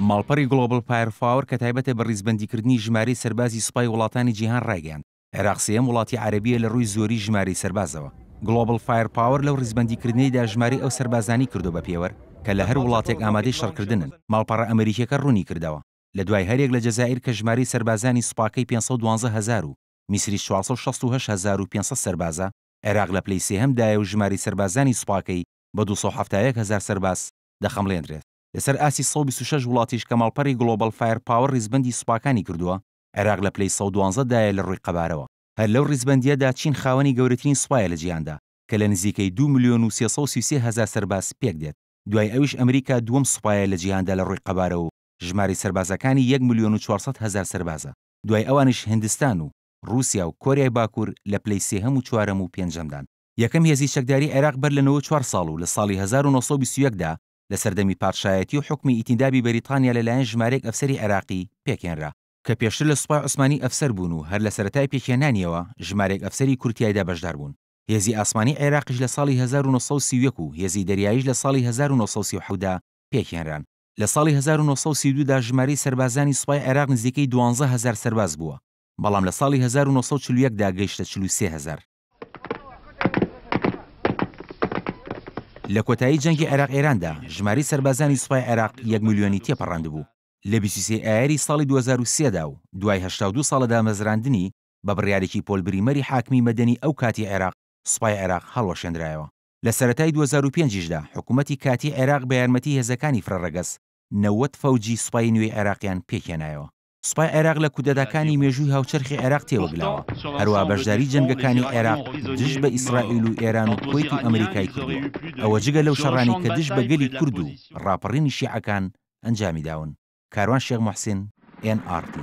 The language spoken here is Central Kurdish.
ماڵپەڕی گڵۆبڵ فایەر فاوەر کە تایبەتە بە ڕیزبەندیکردنی ژمارەی سەربازی سوپای وڵاتانی جیهان ڕایگەیاند، عێراق سێیەم وڵاتی عەرەبییە لە ڕووی زۆری ژمارەی سەربازەوە. گڵۆبڵ فایەر پاوەر لەو ڕیزبەندیکردنەیدا ژمارەی ئەو سەربازانەی کردووە بە پێوەر کە لە هەر وڵاتێک ئامادەی شەڕکردنن. ماڵپەڕە ئەمەریکییەکە ڕوونی کردەوە، لە دوای هەریەک لە جەزائیر کە ژمارەی سەربازانی سوپاکەی پێنج سەد و دوازدە هەزار و میسریش چوار سەد و شەست و هەشت هەزار و پێنج سەد سەربازە، عێراق لە پلەی سێهەمدایە و ژمارەی سەربازانی سوپاکەی بە دوو سەد و حەفتا و یەک هەزار سەرباز دەخەمڵێندرێت، لەسەر ئاستی سەد و بیست و شەش وڵاتیش کە ماڵپەڕی گڵۆبەڵ فایەر پاوەر ڕیزبەندی سوپاکانی کردووە، عێراق لە پلەی سەد و دوازدە دایە لە ڕووی قەبارەوە. هەر لەو ڕیزبەندییەدا چین خاوەنی گەورەترین سوپایە لە جیهاندا کە لە نزیکەی دوو ملیۆن و سێ سەد و سی و سێ هەزار سەرباز پێکدێت، دوای ئەویش ئەمریکا دووەم سوپایە لە جیهاندا لە ڕووی قەبارەوە و ژمارەی سەربازەکانی یەک ملیۆن و چوار سەد هەزار سەربازە، دوای ئەوانیش هندستان و ڕووسیا و کۆریای باکوور لە پلەی سێهەم و چوارەم و پێنجەمدان. یەکەم هێزی چەکداری عێراق بەر لە نەوەد و چوار ساڵ و لە ساڵی هەزار و نۆ سەد و بیست و یەک دا لە سەردەمی پادشایەتی و حوکمی ئیتیندابی بەریتانیا لە لایەن ژمارەیەک ئەفسەری عێراقی پێکهێنرا کە پێشتر لە سوپای عوسمانی ئەفسەر بوون و هەر لە سەرەتای پێکهێنانیەوە ژمارەیەک ئەفسەری کورد تیایدا بەشدار بوون. هێزی ئاسمانی عێراقیش لە ساڵی هەزار و نۆ سەد و سی و یەک و هێزی دەریاییش لە ساڵی هەزار و نۆ سەد و سی و حەوت دا پێکهێنران. لە ساڵی هەزار و نۆ سەد و سی و دوو دا ژمارەی سەربازانی سوپای عێراق نزیکەی دوانزە هەزار سەرباز بووە، بەڵام لە ساڵی هەزار و نۆ سەد و چل و یەک دا گەیشتە چل و سێ هەزار. لە کۆتایی جەنگی عێراق ئێراندا ژماری سەربازانی سوپای عێراق یەک ملیۆنی تێپەڕاندبوو لە بیست و سێ ئایاری ساڵی دوو هەزار و سێ دا و دوای هەشتا و دوو ساڵ لە دامەزراندنی بە بڕیارێکی پۆل بریمەری حاکمی مەدەنی ئەو کاتی عێراق سوپای عێراق هەڵوەشێنرایەوە لە سەرەتای دوو هەزار و پێنج یشدا حکوومەتی کاتی عێراق بە یارمەتی هێزەکانی فرەڕەگەز نەوەد فەوجی سوپای نوێی عێراقیان پێکهێنایەوە. سوپای عێراق لە کودەتاکانی مێژووی هاوچەرخی عێراق تێوەگلاوە، هەروا بەشداری جەنگەکانی عێراق دژ بە ئیسرائیل و ئێران و کوەیت و ئەمریکای کردووە، ئەوە جگە لەو شەڕانەی کە دژ بە گەلی کورد و ڕاپەڕینی شیعەکان ئەنجامیداون. کاروان شێخ موحسین، ئێن ئاڕ تی.